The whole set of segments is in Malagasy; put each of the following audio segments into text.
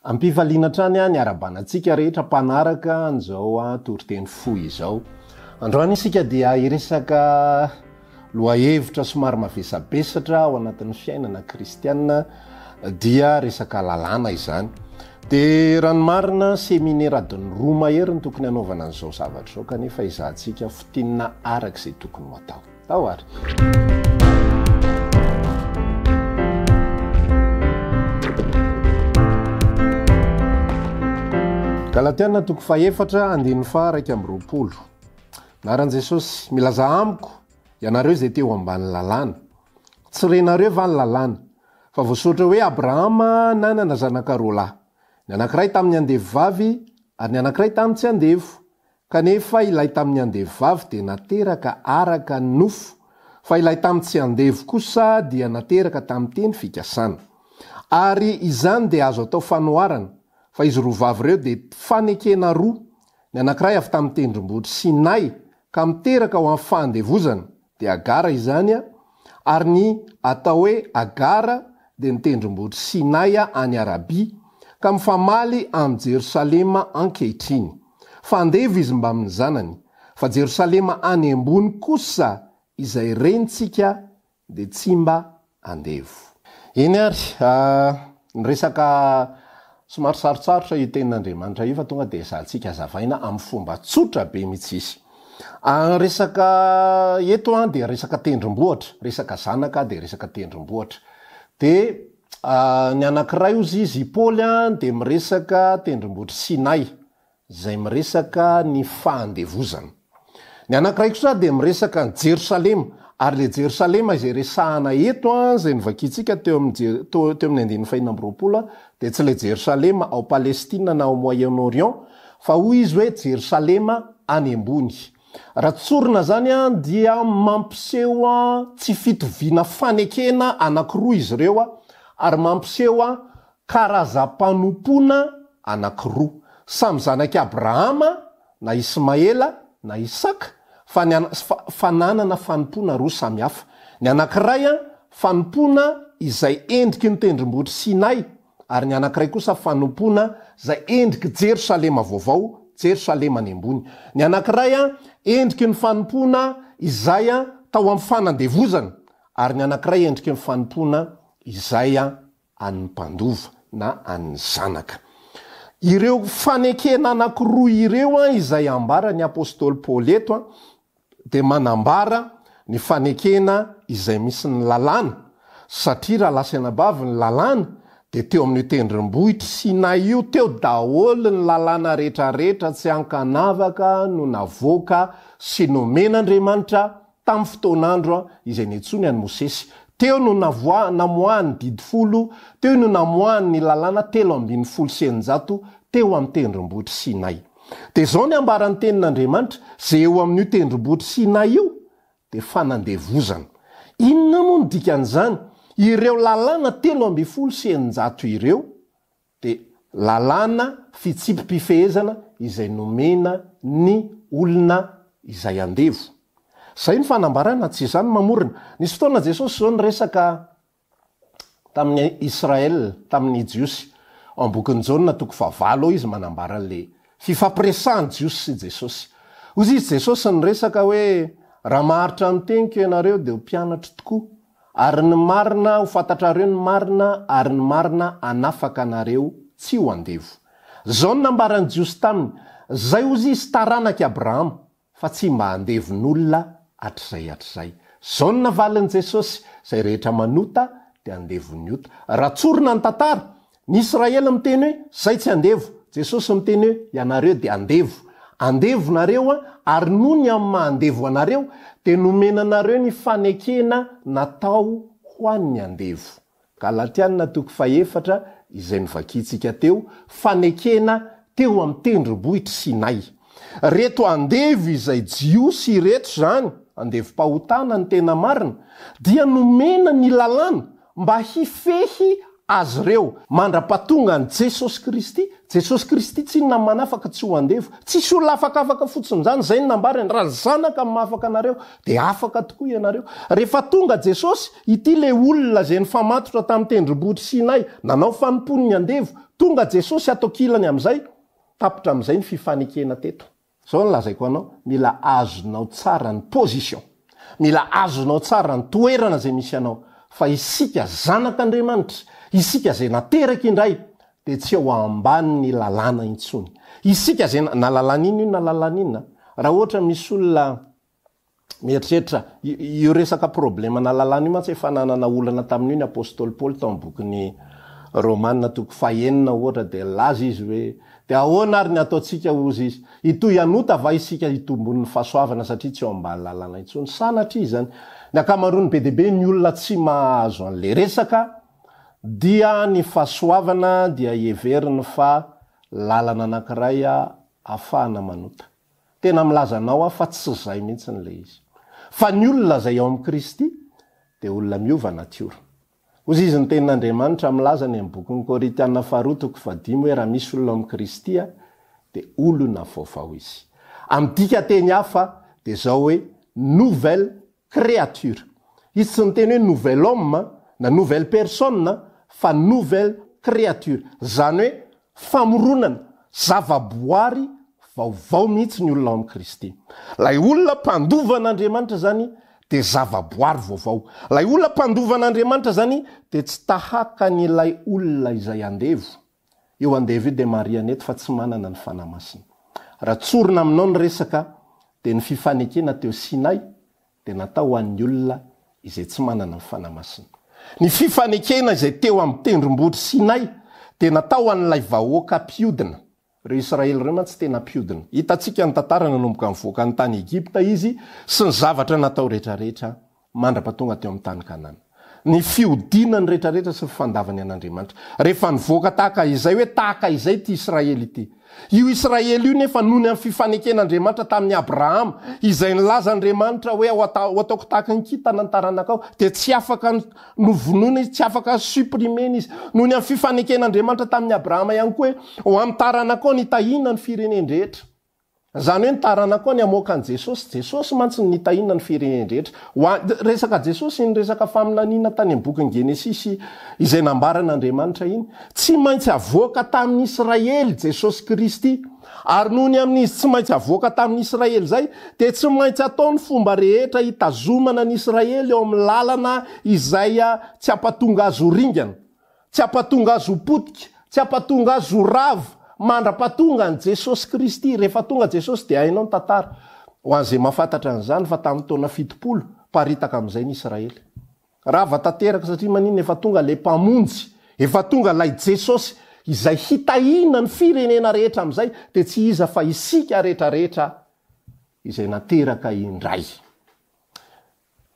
Ampifaliana hatrany ny ara-banantsika rehetra mpanaraka an'izao toriteny fohy izao. Androany isika dia hiresaka lohahevitra somary mavesabesatra ao anatin'ny fiainana kristianina dia resaka lalàna izany. Dia raha ny marina, seminera adiny roa mahery no tokony hanaovana an'izao zavatra izao kanefa ezahantsika fintinina araka izay tokony ho atao. Tao ary. Galatiana toko fahefatra andininy faha raika amby roapolo. Naran'i Jesosy, milaza amiko ianareo izay te ho ambany lalàna. Tsy renareo va ny lalàna? Fa voasoratra hoe Abrahama nanana zanaka roa lahy. Ny anankiray tamin'ny andevo vavy, ary ny anankiray tamin'ny tsy andevo. Kanefa ilay tamin'ny andevovavy dia nateraka araka ny nofo, fa ilay tamin'ny tsy andevo kosa dia nateraka tamin'ny teny fikasana. Ary izany dia azo atao fanoharana, fa izy roa vavy ireo dia fanekena roa, ny anankiray avy tamin'ny tendrombohitry Sinay ka miteraka ho amin'ny fahandevozana, dia Hagara izany, ary ny atao hoe Hagara dia ny tendrombohitry Sinay any Arabia, ka mifamaly amin'i Jerosalema ankehitriny. Fa andevo izy mbamin'ny zanany, fa Jerosalema any ambony kosa izay renintsika dia tsy mba andevo. Eny ary, ny resaka somary sarotsarotra io tenin'Andriamanitra io fa tonga dia ezahantsika azavaina amin'ny fomba tsotra be mitsisy. Ny resaka eto dia resaka tendrombohitra, resaka zanaka dia resaka tendrombohitra. Dia ny anankiray ozy izy i Paoly dia miresaka tendrombohitr'i Sinay, izay miresaka ny fahandevozana. Ny anankiray kosa dia miresaka an'i Jerosalema, ary ilay Jerosalema izay resahana eto, izay novakiantsika teo amin'ny andininy fah'enina amby roapolo, dia tsy ilay Jerosalema ao Palestina na ao Moyen-Orient, fa hoy izy hoe Jerosalema any ambony. Raha tsorina izany dia mampiseho tsy fitoviana fanekena anankiroa izy ireo, ary mampiseho Karazam-panompoana anankiroa. Samy zanak'i Abrahama na Ismaela na Isaka fa ny fa nanana fanompoana roa samy hafa. Ny anankiray, fanompoana izay endriky ny tendrombohitr'i Sinay, ary ny anankiray kosa fanompoana izay endrik'i Jerosalema Vaovao, Jerosalema any ambony. Ny anankiray, endriky ny fanompoana izay tao amin'ny fanandevozana, ary ny anankiray endriky ny fanompoana izay an'ny mpandova na an'ny zanaka. Ireo fanekena anankiroa ireo izay ambaran'ny apostoly Paoly eto dia manambara ny fanekena izay misy ny lalàna, satria raha lasa anabavy ny lalàna dia teo amin'io tendrombohitr'i Sinay io teo daholo ny lalàna rehetrarehetra tsy ankanavaka no navoaka sy nomen'Andriamanitra Tamin'ny fotoan'andro izay niantsoany an'i Mosesy, teo no navoa, namoahany ny Didy Folo, teo no namoahany ny Lalàna telo ambin'ny folo sy eninjato, teo amin'ny Tendrombohitry Sinay. Dia izao ny ambaran'ny Tenin'Andriamanitra, Izay eo amin'io Tendrombohitry Sinay io dia fanandevozana. Inona moa no dikan'izany? Ireo Lalàna telo ambin'ny folo sy eninjato ireo, dia lalàna fitsipi-pifehezana izay nomena ny olona izay andevo. Izay ny fanambarana, tsy izany mamorona. Nisy fotoana Jesosy izao niresaka tamin'ny Israel, tamin'ny Jiosy. Ao amin'ny bokin'i Jaona toko fahavalo ao izy manambara an'ilay fifampiresahan'ny Jiosy sy Jesosy. Hoy izy Jesosy niresaka hoe, Raha maharitra ny teniko ianareo dia ho mpianatro tokoa. Ary ny marina ho fantatrareo ny marina ary ny marina hanafaka anareo tsy ho andevo. Zao no nambaran'ny Jiosy taminy, Zay hozy izy taranak'i Abrahama, fa tsy mba handevon'olona hatrizay hatrizay. Zao no navalin'i Jesosy, Zay rehetra manota dia handevon'ny ota. Raha tsorina ny tantara, Ny Israely miteny hoe, Zay tsy andevo. Jesosy miteny hoe, Ianareo dia andevo. Andevo nareo a, ary noho ny amin'ny maha andevo anareo, dia nomena anareo ny fanekena natao ho an'ny andevo. Galatiana toko fahefatra, izay novakiantsika teo, fanekena teo amin'ny tendrombohitr'i Sinay. Reto andevo izay Jiosy ireto izany, andevom-pahotana ny tena marina, dia nomena ny lalàna Mba hifehy azy ireo mandra-pahatonga an'i Jesosy Kristy. Jesosy Kristy tsy inona manafaka tsy ho andevo. Tsisy olona afakafaka fotsiny izany, izay no nambarany, raha ny zanaka no mahafaka anareo dia afaka tokoa ianareo. Rehefa tonga Jesosy, ity ilay olona izay nifamatotra tamin'ny tendrombohitry Sinay, nanao fanompoany ny andevo, tonga Jesosy ato an-kilany amin'izay, tapitra amin'izay ny fifanekena teto. Zao no lazaiko anao, mila azonao tsara ny position, mila azonao tsara ny toerana izay misy anao, fa isika zanak'Andriamanitra, isika izay nateraka indray, dia tsy eo ambanin'ny lalàna intsony. Isika izay na lalàna inona io na lalàna inona, raha ohatra misy olona, Mieritreritra, io resaka problemana lalàna io mantsy efa nanana olana tamin'io ny apostoly Paoly tao amin'ny bokin'i Romana toko fahenina ohatra dia nilaza izy hoe, Dia ahoana ary ny hataontsika hozy izy? Hitohy hanota va isika hitombon'ny fahasoavana satria tsy eo ambany lalàna intsony? Sanatria izany. Ny ankamaroany be dia be ny olona tsy mahazo an'ilay resaka dia ny fahasoavana dia heveriny fa lalana anankiray ahafahana manota. Tena milaza anao aho fa tsy izay mihitsy ilay izy. Fa ny olona izay ao amin'i Kristy dia olona miova natiora. Hozy izy ny tenin'Andriamanitra milaza any amin'ny bokin'ny Korintiana faharoa toko fahadimy hoe raha misy olona ao amin'i Kristy aho dia olona vaovao izy. Amin'ny dika teny hafa dia izao hoe nouvelle créature. Izy tsy niteny hoe nouvel homme na nouvelle personne fa nouvelle créature. Izany hoe famoronana, zavaboary vaovao mihitsy ny olona ao amin'i Kristy. Ilay olona mpandovan'Andriamanitra izany dia zavaboary vaovao. Ilay olona mpandovan'Andriamanitra izany dia tsy tahaka an'ilay olona izay andevo. Io an David dia marihana eto fa tsy manana ny Fanahy Masina. Raha tsorina aminao ny resaka dia ny fifanekena teo Sinay dia natao ho an'ny olona izay tsy manana ny Fanahy Masina. Ny fifanekena izay teo amin'ny tendrombohitry Sinay dia natao ho an'ilay vahoaka mpiodina. Ireo Israely ireo mantsy tena mpiodina. Hitantsika ny tantara nanomboka nivoaka ny tany Egypta izy sy ny zavatra natao rehetra rehetra mandra-pahatonga teo amin'ny tany Kanana. Ny fiodiana ny rehetrarehetra sy ny fandavany an'Andriamanitra. Rehefa nivoaka tahaka izay hoe tahaka izay ity Israely ity. Io Israely io nefa noho ny amin'ny fifaneken'Andriamanitra tamin'i Abrahama, izay nilazan'Andriamanitra hoe ho ataoko tahaka ny kintana ny taranakao, dia tsy afaka novonoina izy, tsy afaka supprimer-na izy. Noho ny amin'ny fifaneken'Andriamanitra tamin'i Abrahama ihany koa hoe ho amin'ny taranakao nitahiana ny firenen-drehetra. Izany hoe ny taranako koa ny hamoaka an'i Jesosy. Jesosy mantsy no nitahiana ny fireneny rehetra. Ho an, resaka Jesosy iny resaka faminaniana tany amin'ny bokin'ny Genesisy izay nambaran'Andriamanitra iny. Tsy maintsy havoaka tamin'ny Israely Jesosy Kristy. Ary noho ny amin'izy tsy maintsy havoaka tamin'ny Israely izay dia tsy maintsy atao ny fomba rehetra hitazomana ny Israely eo amin'ny lalana izay tsy hampatonga azy ho ringana. Tsy hampatonga azy ho potika, tsy hampatonga azy ho rava, mandra-pahatonga an'i Jesosy Kristy. Rehefa tonga Jesosy dia hainao ny tantara, ho an'izay mahafantatra an'izany, fa tamin'ny taona fitopolo, miparitaka amin'izay ny Israely. Rava tanteraka, satria maninona? Efa tonga ilay Mpamonjy, efa tonga ilay Jesosy izay hitahiana ny firenena rehetra amin'izay, dia tsy iza fa isika rehetrarehetra izay nateraka indray.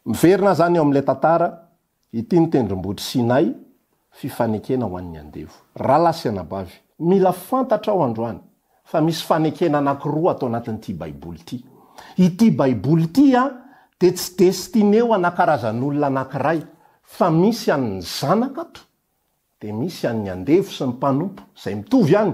Miverina aho izany eo amin'ilay tantara, Ity ny tendrombohitry Sinay, fifanekena ho an'ny andevo. Rahalahy sy anabavy, mila fantatrao androany fa misy fanekena anankiroa ato anatin'ity Baiboly ity. Ity Baiboly ity dia tsy destineo ana karazan'olona anankiray fa misy an'ny zanaka ato. Dia misy an'ny andevo sy ny mpanompo izay mitovy ihany.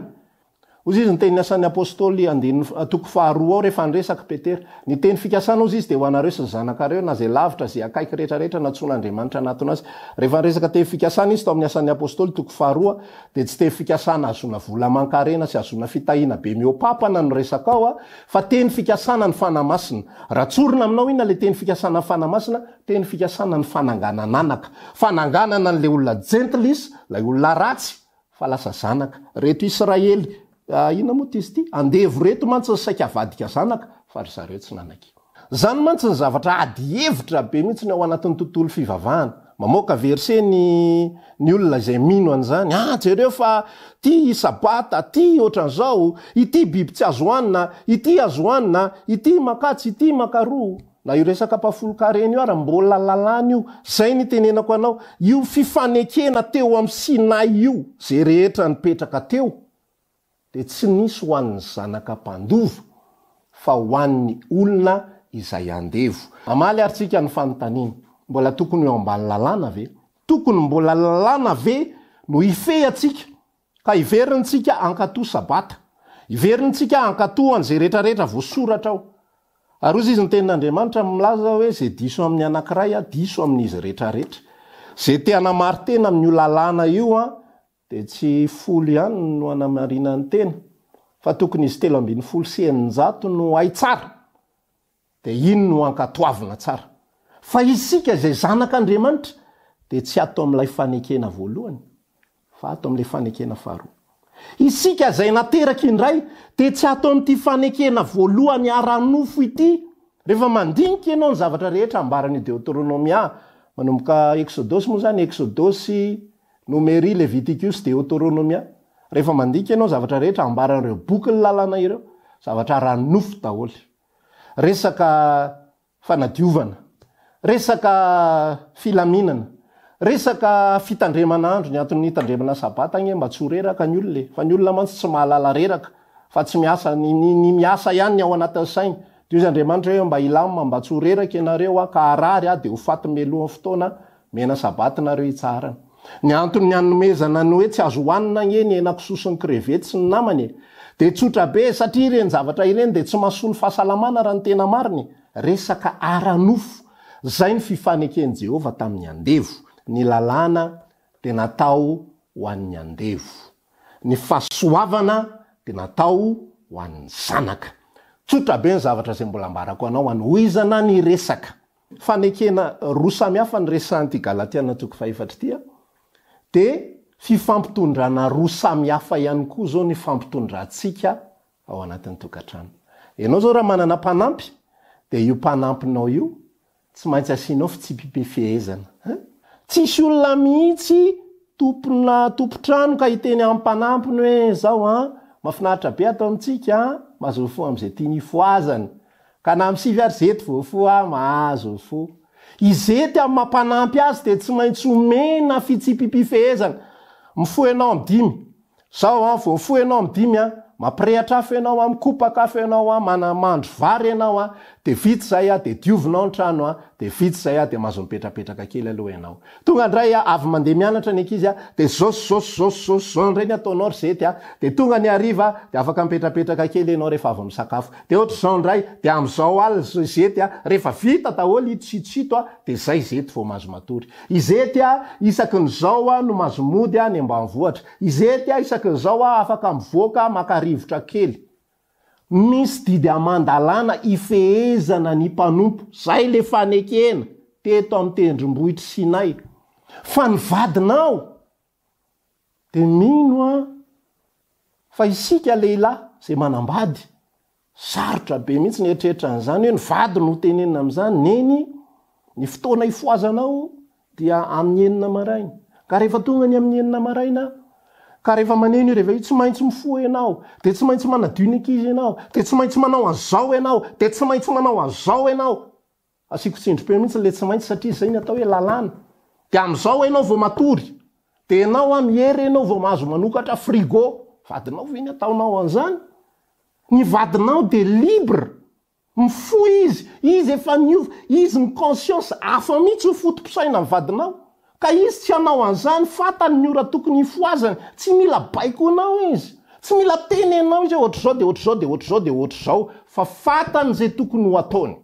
Hoy izy, Ny tenin'ny Asan'ny Apostoly, andininy, toko faharoa ao, rehefa niresaka Petera, Ny teny fikasana, hozy izy, dia ho anareo sy ny zanakareo, na izay lavitra, izay akaiky rehetra rehetra nantsoin' Andriamanitra hanatona azy. Rehefa niresaka teny fikasana izy tao amin'ny Asan'ny Apostoly, toko faharoa, dia tsy teny fikasana hahazoana vola aman-karena sy hahazoana fitahiana be mihoa-pampana no resaka ao, fa teny fikasana ny Fanahy Masina. Raha tsorina aminao iny ilay teny fikasana ny Fanahy Masina, Teny fikasana ny fananganan anaka. Fananganana an'ilay olona jentil is, ilay olona ratsy, fa lasa zanaka. Reto Israely, inona moa ty izy ity? Andevo reto mantsy ny saika avadika zanaka, fa ry zareo tsy nanaky. Zany mantsy ny zavatra ady hevitra be mintsiny ao anatin'ny tontolo fivavahana. Mamoaka verset ny ny olona izay mino an'izany, ah jereo fa ty sabata, ty otran'izao, ity biby tsy azo hoanina, ity azo hoanina, ity makatsy, ity makaroa. Na io resaka mpahafolon-karena io ary mbola lalàna io. Izay nitenenako anao. Io fifanekena teo amin'ny Sinay io, izay rehetra nipetraka teo, dia tsy nisy ho an'ny zanaka mpandova, fa ho an'ny olona izay andevo. Hamaly ary tsika ny fanontaniana, mbola tokony ho ambany lalàna ve? Tokony mbola lalàna ve no hifehy antsika? Ka hiverintsika hankatoa Sabata. Hiverintsika hankatoa an'izay rehetrarehetra voasoratra ao. Ary hoy Izy, ny Tenin'Andriamanitra milaza hoe, Izay diso amin'ny anankiray Aho, diso amin'izy rehetrarehetra. Izay te hanamari-tena amin'io lalàna io, dia tsy folo ihany no hanamarinany tena, fa tokony izy telo ambin'ny folo sy eninjato no hay tsara. Dia iny no ankatoavina tsara. Fa isika izay zanak' Andriamanitra dia tsy ato amin' ilay fanekena voalohany, fa ato amin' ilay fanekena faharoa. Isika izay nateraka indray dia tsy ato amin' ity fanekena voalohany ara-nofo ity. Rehefa mandinika ianao ny zavatra rehetra ambaran' i Deoteronomia, manomboka Eksodosy moa izany, Eksodosy, Nomery, Levitikosy, Deoteronomia, rehefa mandinika ianao ny zavatra rehetra ambaran' ireo bokin' ny Lalana ireo, zavatra ara-nofo daholo. resaka fanadiovana, resaka filaminana, resaka fitandremana andro, ny antony hitandremana sabata anie mba tsy ho reraka ny olona e, fa ny olona mantsy tsy mahalala reraka fa tsy miasa, ny ny miasa ihany ny ao anatin'ny sainy, dia hoy izy Andriamanitra hoe mba hilamina mba tsy ho reraka ianareo aho ka harary aho dia ho faty mialohan'ny fotoana aho, Mena sabata nareo itsaharana ny antony ny anomezana ny hoe tsy azo hoanina ange ny henakisoa sy ny crevettes sy ny namany e! Dia tsotra be e! Satria ireny zavatra ireny dia tsy mahasoa ny fahasalamana raha ny tena marina e! Resaka ara-nofo! Zay ny fifaneken'i Jehovah tamin'ny andevo. Ny lalàna dia natao ho an'ny andevo. Ny fahasoavana dia natao ho an'ny zanaka. Tsotra be ny zavatra izay mbola ambarako anao hanohizana ny resaka. fanekena roa samy hafa ny resahan'ity Galatiana toko fahefatra ity an, dia fifampitondrana roa samy hafa ihany koa izao ny ifampitondrantsika ao anatin'ny tokantrano. Ianao izao raha manana mpanampy, dia io mpanampinao io tsy maintsy asianao fitsipi-pifehezana an. Tsy hisy olona mihitsy tompona tompon-trano ka hiteny amin'ny mpanampiny hoe, izao an, mahafinaritra be ato amintsika an, mazofoha amin'izay tiany hifohazany, Ka na am sivy ary zety voafoha mahazo ny fo. Izety am maha mpanampy azy dia tsy maintsy omena fitsipipifehezana. Mifoha ianao am dimy. Zao an, vao mifoha ianao am dimy an, mampirehatra afo ianao an, mikopaka afo ianao an, manamandry vary ianao an, dia vita izay an, dia diovinao ny trano an, dia vita izay an, dia mahazo mipetrapetraka kely aloha ianao. Tonga ndray a, avy mandeha mianatra ny ankizy a, dia zao sy zao sy zao sy zao sy zao ndray ny ataonao ry zety a, dia tonga ny hariva a, dia afaka mipetrapetraka kely ianao rehefa avy misakafo, dia ohatr'izao ndray, dia amin'izao alina ry zety a, rehefa vita daholo ito sy ito sy ito a, dia zay zety vao mahazo matory. Izety a, isaky ny zao a, no mahazo mody any ambanivohitra. Izety a, isaky ny zao a, afaka mivoaka maka rivotra kely. Misy didy aman-dalàna ifehezana ny mpanompo, izay le fanekena teto amin'ny tendrombohitr'i Sinay, fa ny vadinao dia mino an, fa isika lehilahy izay manambady, sarotra be mihitsy ny eritreritran'izany hoe ny vady no ho tenenina amin'izany, neny ny fotoana ifohazanao dia amin'ny enina maraina, ka rehefa tonga ny amin'ny enina maraina aho, ka rehefa maneno i reveil, tsy maintsy mifoha ianao, dia tsy maintsy manadio ny ankizy ianao, dia tsy maintsy manao an'izao ianao, dia tsy maintsy manao an'izao ianao, asiako tsindrim-peo mihitsy ilay tsy maintsy satria izay no atao hoe lalàna, dia amin'izao ianao vao matory, dia ianao amin'ny hery ianao vao mahazo manokatra frigo, vadinao ve ny ataonao an'izany? Ny vadinao dia libre, Mifoha izy, izy efa niova, izy ny conscience, hafa mihitsy io foto-pisainan'ny vadinao, ka izy tsy hanao an'izany, fantany ny ora tokony hifohazany, tsy mila baikonao izy, tsy mila tenenao izy hoe ohatr'izao dia ohatr'izao dia ohatr'izao dia ohatr'izao, fa fantany izay tokony ho ataony.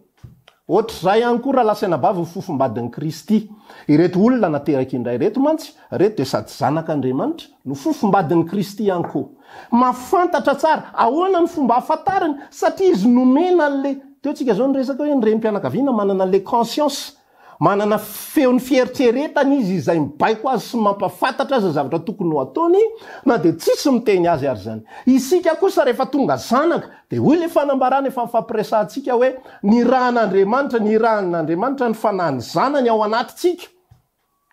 Ohatr'izay ihany koa raha lasaina bavy ny fofombadin'i Kristy. Ireto olona nateraky indray ireto mantsy Reto dia sady zanak' Andriamanitra no fofombadin'i Kristy ihany koa. Mahafantatra tsara ahoana ny fomba hahafantarany satria izy nomena an'le, teo tsika zao niresaka hoe ny renim-pianakaviana manana le conscience, manana feon'ny fieritreretany izy izay mibaiko azy sy mampafantatra azy ny zavatra tokony ho ataony na dia tsisy miteny azy ary zany. Isika kosa rehefa tonga zanak dia hoy le fanambarana efa nifampiresahantsika hoe nirahan'Andriamanitra, nirahan'Andriamanitra ny fanahin'ny zanany ao anatintsika.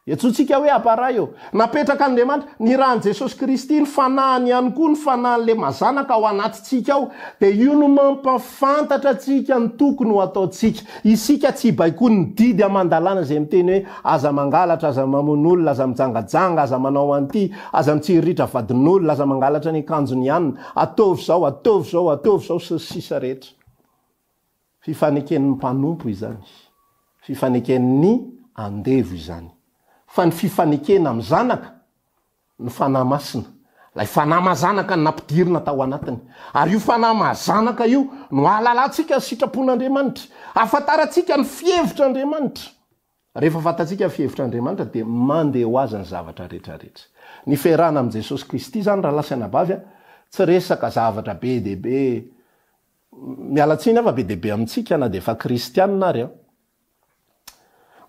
Antsointsika hoe Aparay eo. Napetrak'Andriamanitra, nirahan'i Jesosy Kristy, ny Fanahiny ihany koa, ny Fanahin'ilay Mazanaka ao anatintsika ao. Dia io no mampahafantatra antsika ny tokony ho ataontsika. Isika tsy baikoin'ny didy aman-dalàna izay miteny hoe, Aza mangalatra, aza mamono olona, aza mijangajanga, aza manao an'ity, aza mitsiriritra vadin'olona, aza mangalatra ny akanjon'i anona, ataovy izao, ataovy izao, ataovy izao, sy ny sisa rehetra. Fifaneken'ny mpanompo izany. Fifaneken'ny andevo izany. Fa ny fifanekena amin'ny Zanaka, ny Fanahy Masina, ilay Fanahy Mazanaka nampidirina tao anatiny. Ary io Fanahy Mazanaka io no ahalalantsika ny sitrapon'Andriamanitra. Ahafantarantsika ny fihevitr'Andriamanitra. Rehefa fantatsika ny fihevitr'Andriamanitra dia mandeha ho azy ny zavatra rehetrarehetra. Ny fiarahana amin'i Jesosy Kristy izany rahalahy sy anabavy a, tsy resaka zavatra be dia be, Miala tsiny aho fa be dia be amintsika na dia efa kristianina ary aho.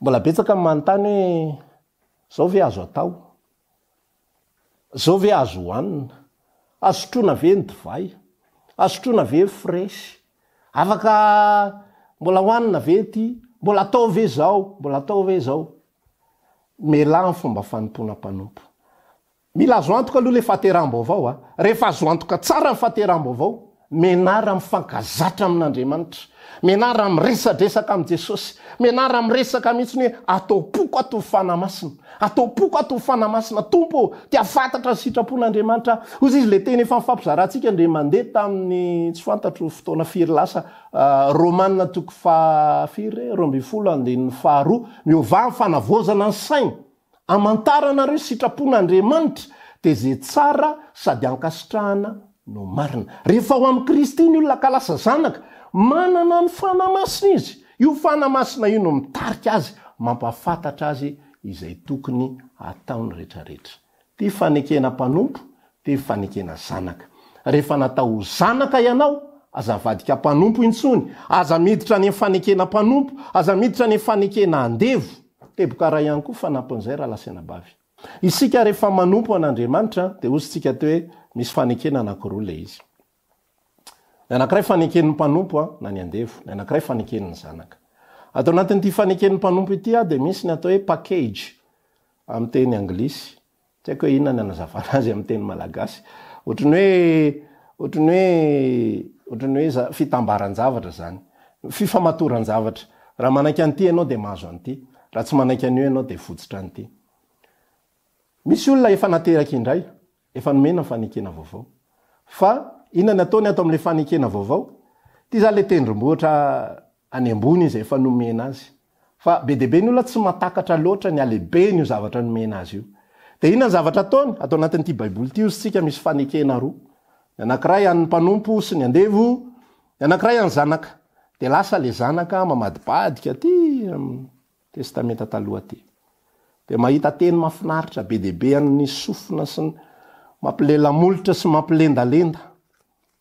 Mbola betsaka ny manontany hoe izao ve azo atao? Izao ve azo hohanina? Azo sotroina ve ny divay? Azo sotroina ve ny fresy? Afaka mbola hohanina ve ity? Mbola atao ve izao? Mbola atao ve izao? Mielà ny fomba fanompoana mpanompo. Mila azo antoka aloha ilay fahateraham-baovao a! Rehefa azo antoka tsara ny fahateraham-baovao, menarra mifankazatra amin'Andriamanitra, menarra miresadresaka amin'i Jesosy, menarra miresaka mihitsy ny hoe, Ataom-poko ato ho fanahy masina, ataom-poko ato ho fanahy masina Tompo ô! Te hahafantatra ny sitrapon'Andriamanitra aho. Hoy izy, ilay teny efa nifampizarantsika dia mandeha tamin'ny tsy fantatro fotoana firy lasa, Romana toko faha firy re? roa ambin'ny folo andininy faharoa, miovà ny fanavaozana ny saina. Amantaranareo sitrapon' Andriamanitra dia izay tsara sady ankasitrahana no marina. Rehefa ao amin'i Kristy ny olona ka lasa zanaka, manana ny Fanahy Masina izy. Io Fanahy Masina io no mitarika azy, mampahafantatra azy izay tokony hataony rehetrarehetra. Ity fanekena mpanompo Telo fanekena zanaka. Rehefa natao ho zanaka ianao, aza avadika mpanompo intsony, aza miditra any amin'ny fanekena mpanompo, aza miditra any amin'ny fanekena andevo. Teboka ray ihany koa fanampin'izay raha lasa anabavy. Isika rehefa manompo an'Andriamanitra dia hozintsika teo hoe misy fanekena anankiroa ilay izy. Ny anankiray faneken'ny mpanompo na ny andevo, ny anankiray faneken'ny zanaka. Ato anatin'ity faneken'ny mpanompo ity dia misy ny atao hoe package amin'ny teny anglisy. Tsy haiko hoe inona ny anazavana azy amin'ny teny malagasy. Ohatry ny hoe, ohatry ny hoe, ohatry ny hoe fitambaran-javatra izany. Fifamatoran-javatra. Raha manaiky an'ity ianao dia mahazo an'ity. Raha tsy manaiky an'io ianao dia votsitra an'ity. Misy olona efa nateraka indray, efa nomena ny fanekena vaovao. Fa inona ny ataony ato amin'ilay fanekena vaovao? Ity izany ilay tendrombohitra any ambony izay efa nomena azy. Fa be dia be ny olona tsy mahatakatra loatra ny halehibeny io zavatra nomena azy io. Dia inona ny zavatra ataony? Ato anatin'ity Baiboly ity hozy tsika misy fanekena roa. Ny anankiray an'ny mpanompo sy ny andevo, ny anankiray an'ny zanaka. Dia lasa ilay zanaka mamadibadika aty amin'ny Testamenta Taloha aty. Dia mahita teny mahafinaritra be dia be an'ny sofina sy ny mampilela-molotra sy mampilendalenda.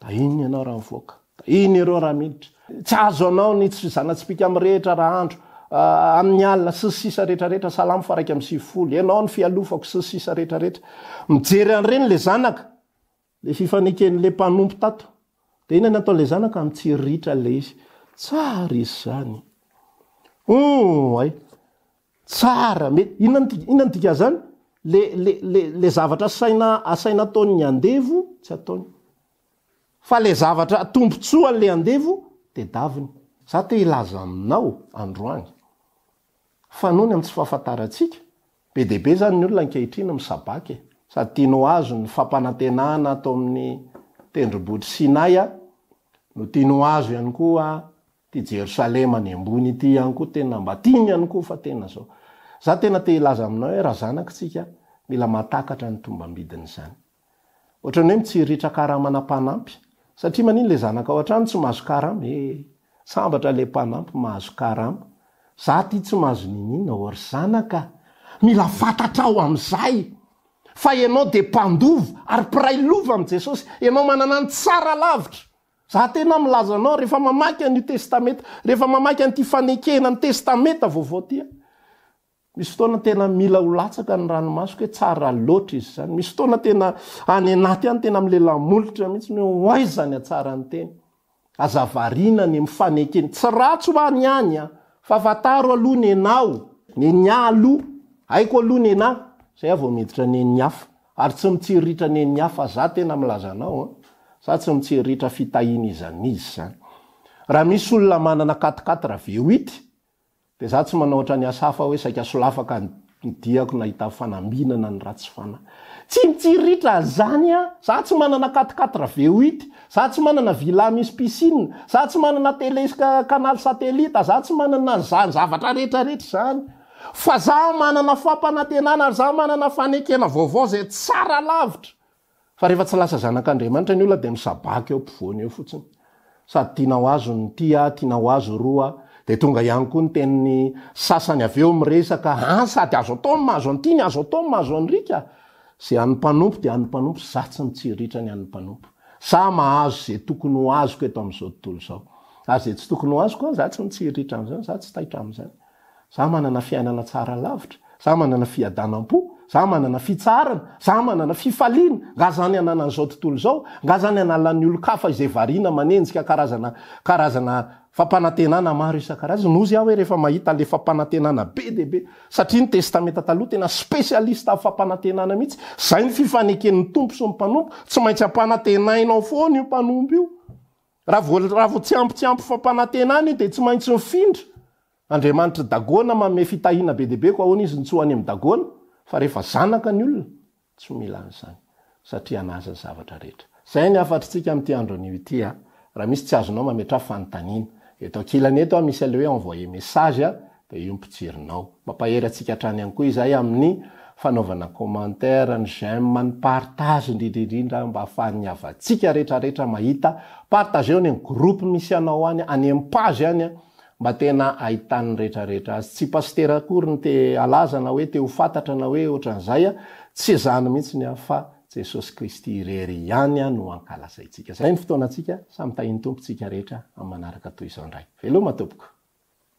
Da ino ianao raha mivoaka? Da ino ireo raha miditra? Tsy azo anao ny tsy zana-tsipìka amin'ny rehetra raha andro, amin'ny alina, sy ny sisa rehetra rehetra, Salamo faraika amby sivifolo, Ianao no fialofako, sy ny sisa rehetra rehetra. Mijery an'ireny ilay zanaka, ilay fifaneken'ilay mpanompo tato. Dia inona no ataon'ilay zanaka? Mitsiritra ilay izy. Tsara izy izany. Hum, hay. Tsara me. Inona no dika inona no dikan'izany? Le le le le zavatra asaina asaina ataon'ny andevo tsy ataony. Fa le zavatra tombontsoan'le andevo tedaviny. Za te hilaza aminao androany fa noho ny amin'ny tsy fahafantarantsika, be dia be zany ny olona ankehitriny misabaka e. Sady tiany ho azo ny fampanantenana ato amin'ny tendrombohitr'i Sinay no tiany ho azo ihany koa Ity Jerosalema any ambony ity ihany koa tena mba tiany ihany koa fa tena zao. Za tena te hilaza aminao hoe razanako tsika mila mahatakatra ny tombambidiny izany. Ohatran'ny hoe mitsiritra karamana mpanampy satria manino le zanakao antrano tsy mahazo karama ee. Sambatra le mpanampy mahazo karama. Za aty tsy mahazo niniana ô ry zanaka a. Mila fantatrao amizay fa enao dia mpandova ary mpiray lova amin'i Jesosy. Enao manana ny tsara lavitra Za tena milaza anao rehefa mamaky an'io testamenta, rehefa mamaky an'ity fanekena ny testamenta vaovao ty a, misy fotoana tena mila ho latsaka ny ranomasoko hoe tsara loatra izy zany, misy fotoana tena any anaty any tena milela molotra mihitsy ny hoe ho aiza ny hatsaran'ny tena, aza variana ny mifaneke ny tsy ratsy ho any ihany a, fa fantaro aloha ny enaho, nenia aloha, haiko aloha ny enahy, zay aho vao miditra ny eny hafa. Ary tsy mitsiriritra nen'ny hafa za tena milaza anao an! Za tsy mitsiriritra fitahian'iza n'iza zany. Raha misy olona manana quatre quatre ve huit dia za tsy manao ohatran'ny asa hafa hoe saika solafaka ny diako nahita fanambinana ny ratsy fanahy. Tsy mitsiriritra an'izany an! Za tsy manana quatre quatre ve huit, za tsy manana villa misy piscine, za tsy manana tele canal satellite, za tsy manana an'izany zavatra rehetra rehetra izany. Fa za manana fampanantenana ary za manana fanekena vaovao zay tsara lavitra fa rehefa tsy lasa zanak'Andriamanitra ny olona dia misabaka eo ampovoany eo fotsiny. Sady tiana ho azo ny ty aho, tiana ho azo roa aho. Dia tonga ihany koa ny tenin'ny sasany avy eo miresaka, an, sady azo atao ny mahazo an'ity ny azo atao ny mahazo an'ry ka. Ze an'ny mpanompo dia an'ny mpanompo, za tsy mitsiriitra ny an'ny mpanompo. Za mahazo ze tokony ho azoko eto amin'izao tontolo izao. Ary ze tsy tokony ho azoko an, za tsy mitsiriitra an'izany, za tsy taitra amin'izany. Za manana fiainana tsara lavitra, za manana fiadanam-po, za manana fitsaharana, za manana fifaliana, nga zany ananan'izao tontolo izao, nga zany analan'ny olon-kafa izay variana manenjika karazana karazana fampanantenana maro isan-karazany, no hozy aho hoe rehefa mahita an'ilay fampanantenana be dia be, satria ny Testamenta Taloha tena spécialiste amin'ny fampanantenana mihitsy, zay ny fifaneken'ny Tompo sy ny mpanompo, tsy maintsy ampanantenainao foana io mpanompo io. Raha voaravo tsy ampy tsy ampy fampanantenana io dia tsy maintsy mifindra. Andriamanitr'i Dagona manome fitahiana be dia be koa ahoana izy no tsy ho any amin'i Dagona? Fa rehefa zanaka ny olona, tsy mila an'izany, satria an'Azy ny zavatra rehetra. Izay ny hafatritsika amin'ity andro anio ity a! Raha misy tsy azonao mametraha fanontaniana. Eto ankilany eto a, misy an'ilay hoe envoyer message a, dia io ny mpijerinao. Mampahery antsika hatrany ihany koa izay amin'ny fanaovana commentaire, ny j'aime, ny partage indrindra indrindra mba ahafahan'ny havantsika rehetra rehetra mahita. Partageo any amin'ny groupe misy anao any, any amin'ny page any an, mba tena ahitan'ny rehetra rehetra azy. Tsy pasitera akory ny te halaza na hoe te ho fantatra na hoe ohatran'izay an, tsy izany mihitsy ny ahy fa Jesosy Kristy irery ihany an no ankalazaintsika. Izay ny fotoanantsika, samy tahian'ny Tompo isika rehetra amin'ny manaraka toy izao indray. Veloma tompoko.